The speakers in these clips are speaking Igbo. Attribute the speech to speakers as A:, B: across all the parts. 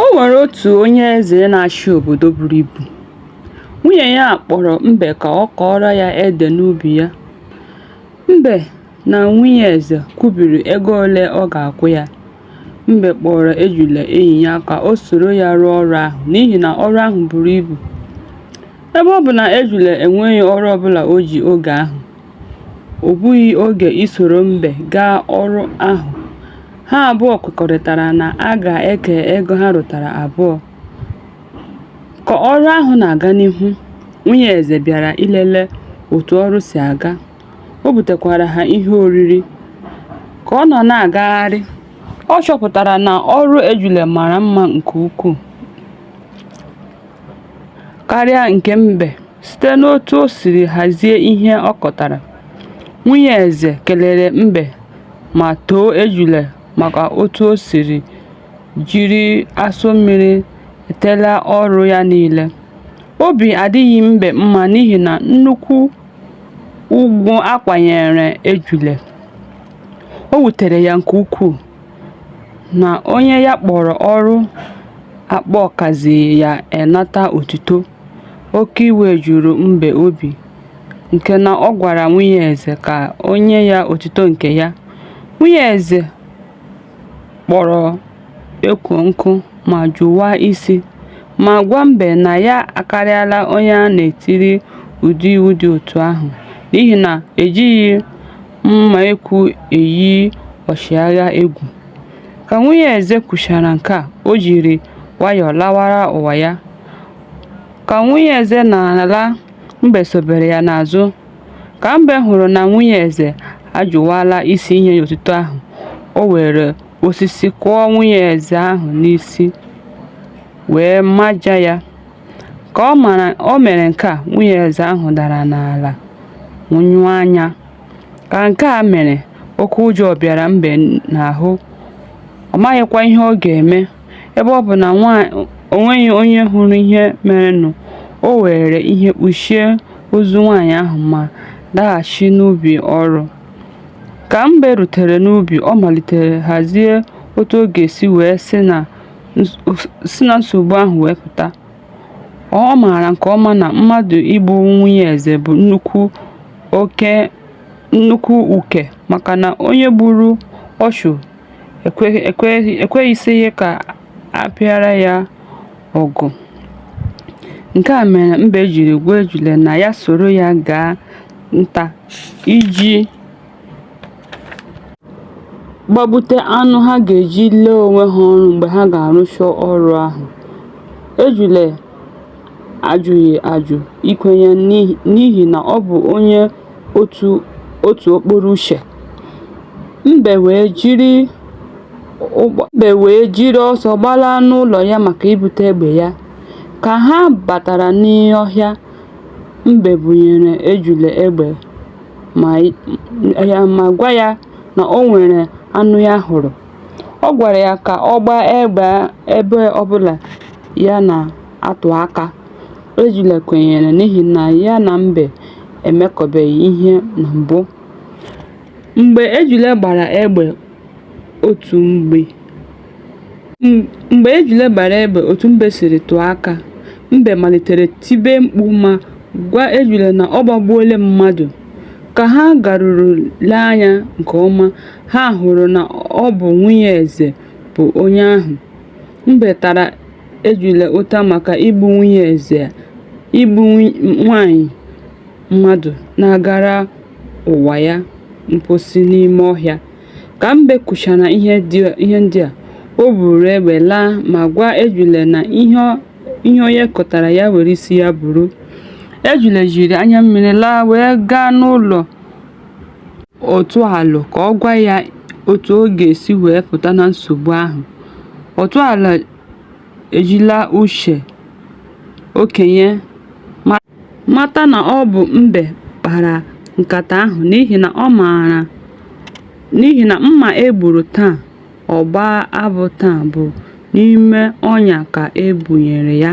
A: O nwere otu onye eze na-achị obodo buru ibu. Nwunye ya kpọrọ mbe ka ọ kọọrọ ya ede n'ubi ya. Mbe na nwunye eze kwubiri ego ole ọ ga-akwụ ya. Mbe kpọọrọ ejula enyi ya ka o soro ya rụọ ọrụ ahụ n'ihi na ọrụ ahụ buru ibu. Ebe ọ bụ na ejula enweghị ọrụ ọbụla o ji oge ahụ, O gbughị oge isoro mbe gaa ọrụ ahụ, ha abụọ kwekọrịtara na a ga-eke ego ha rụtara abụọ. Ka ọrụ ahụ na-aga n'ihu, nwunye eze bịara ilele otu ọrụ si aga, o butekwara ha ihe oriri. Ka ọ nọ na-agagharị, ọ chọpụtara na ọrụ ejula mara mma nke ukwuu karịa nke mbe. Site n'otu o siri hazie ihe ọ kọtara, nwunye eze kelere mbe ma too ejule maka otu o siri jiri asụ mmiri etela ọrụ ya niile. Obi adịghị mbe mma n'ihi na nnukwu ugwu a kwanyeere ejule, o wutere ya nke ukwuu na onye ya kpọrọ ọrụ akpọ kazi ya enata otuto. Oke iwe juru mbe obi nke na ọ gwara nwunye eze ka o nye ya otuto nke ya, nwunye eze kpọrọ ekwo nkụ ma jụwa isi, ma gwa mbe na ya akarịala onye a na-etiri ụdị iwu dị otu ahụ n'ihi na ejighị mma ekwu eyi ọchịagha egwu. Ka nwunye eze kwuchara nke a, o jiri nwayọọ lawara ụwa ya. Ka nwunye eze na-ala, mbe sobere ya n'azụ. Ka mbe hụrụ na nwunye eze ajụwala isi inye ya otuto ahụ, o were osisi kụọ nwunye eze ahụ n'isi wee maja ya. Ka o mere nke a, nwunye eze ahụ dara n'ala nwụọ anya. Ka nke a mere, oke ụjọ bịara mbe n'ahụ, ọ maghịkwa ihe ọ ga-eme. Ebe ọ bụ na o nweghị onye hụrụ ihe merenụ, o weere ihe kpuchie ozu nwanyị ahụ ma laghachi n'ubi ọrụ. Ka Mbe rutere n'ubi, ọ malitere hazie otu ọ ga-esi wee si na nsogbu ahụ wee pụta. Ọ maara nke ọma na mmadụ igbu nwunye eze bụ nnukwu uke maka na onye gburu ọchụ ekweghịsịghị ka a pịara ya ọgụ. Nke a mere mbe jiri gwa ejule na ya soro ya gaa nta iji gbabute anụ ha ga-eji lee onwe ha ọrụ mgbe ha ga-arụcha ọrụ ahụ. Ejule ajụghị ajụ ikwenye n'ihi na ọ bụ onye otu otu okporo uche mbe wee jiri ụgbọ mbe wee jiri ọsọ gbalaa n'ụlọ ya maka ibute egbe ya ka ha batara n'ọhịa mbe bunyere ejule egbe ma gwa ya na o nwere anụ ya hụrụ. Ọ gwara ya ka ọ gbaa egbe ebe ọbụla ya na-atụ aka. Ejula kwenyere n'ihi na ya na mbe emekọbeghị ihe na mbụ. Mgbe ejula gbara egbe otu mbe siri tụọ aka, mbe malitere tibe mkpu ma gwa ejula na ọ gbagbuola mmadụ. Ka ha garuru lee anya nke ọma, ha hụrụ na ọ bụ nwunye eze bụ onye ahụ. Mbe tara ejula ụta maka igbu nwunye eze a, igbu nwanyị mmadụ na-agara ụwa ya mposi n'ime ọhịa. Ka Mbe kwuchara ihe ndị a, o buuru egbe laa ma gwa Ejule na ihe onye kọtara ya were isi ya buru. Ejule jiri anya mmiri laa wee gaa n'ụlọ Otu Alụ ka ọ gwa ya otu ọ ga-esi wee pụta na nsogbu ahụ. Otu Alụ ejila uche okenye mara. mata na ọ bụ mbe kpara nkata ahụ n'ihi na ọ maara n'ihi na mma e gburu taa, ọ gbaa abụ taa bụ n'ime ọnya ka e bunyere ya.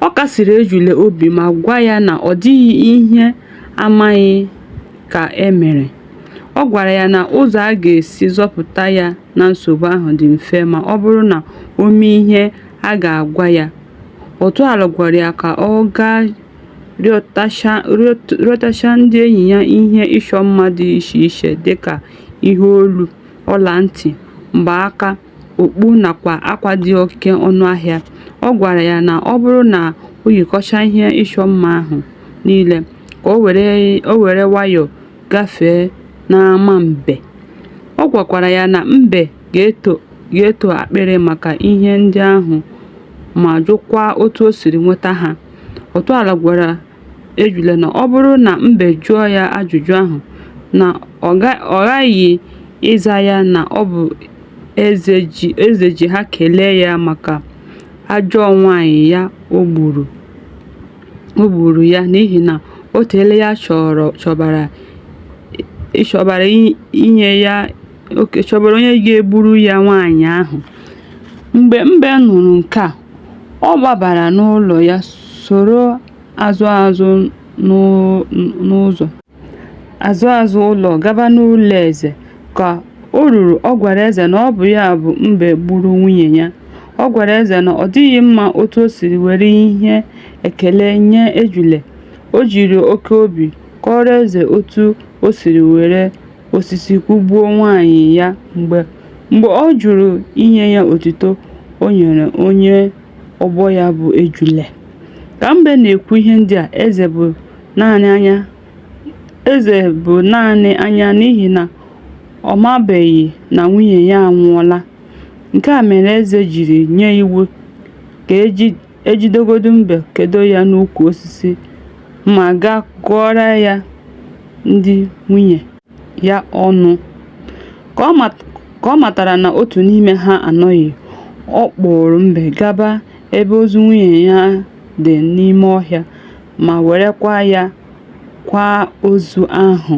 A: Ọ kasiri Ejule obi ma gwa ya na ọ dịghị ihe amaghị ka e mere. Ọ gwara ya na ụzọ a ga-esi zọpụta ya na nsogbu ahụ dị mfe ma ọ bụrụ na o mee ihe a ga-agwa ya. Otu Alụ gwara ya ka ọ gaa rịọtacha ndị enyi ya ihe ịchọ mma dị iche iche dị ka ihe olu, ọla ntị, mgbaaka, okpu nakwa akwa dị oke ọnụ ahịa. Ọ gwara ya na ọ bụrụ na o yikọcha ihe ịchọ mma ahụ niile, ka o were nwayọọ gafee n'ama mbe. Ọ gwakwara ya na mbe ga-eto. ga-eto akpịrị maka ihe ndị ahụ ma jụkwaa otu o siri nweta ha. Otuala gwara ejula na ọ bụrụ na mbe jụọ ya ajụjụ ahụ, na ọ ghaghị ịza ya na ọ bụ eze ji ha kelee ya maka ajọọ nwaanyị ya o gburu ya n'ihi na o teela ya chọbara inye ya oke chọbara onye ga-egburu ya nwaanyị ahụ mgbe mbe nụrụ nke a ọ gbabara n'ụlọ ya soro ụzọ azụ azụ ụlọ gaba n'ụlọ eze ka o ruru ọ gwara eze na ọ bụ ya bụ mbe gburu nwunye ya ọ gwara eze na ọ dịghị mma otu o siri were ihe ekele nye ejule o jiri oke obi kọọrọ eze otu o siri were osisi kwụgbuo nwaanyị ya mgbe mgbe ọ jụrụ inye ya otuto o nyere onye ọgbọ ya bụ ejule. Ka mbe na-ekwu ihe ndị a, eze bụ naanị anya n'ihi na ọ mabeghị na nwunye ya anwụọla. Nke a mere eze jiri nye iwu ka e ji e jidegodu mbe kedo ya n'ukwu osisi ma gaa gụọrọ ya ndị nwunye ya ọnụ. Ka ọ matara na otu n'ime ha anọghị, ọ kpụụrụ mbe gaba ebe ozu nwunye ya dị n'ime ọhịa ma werekwa ya kwaa ozu ahụ.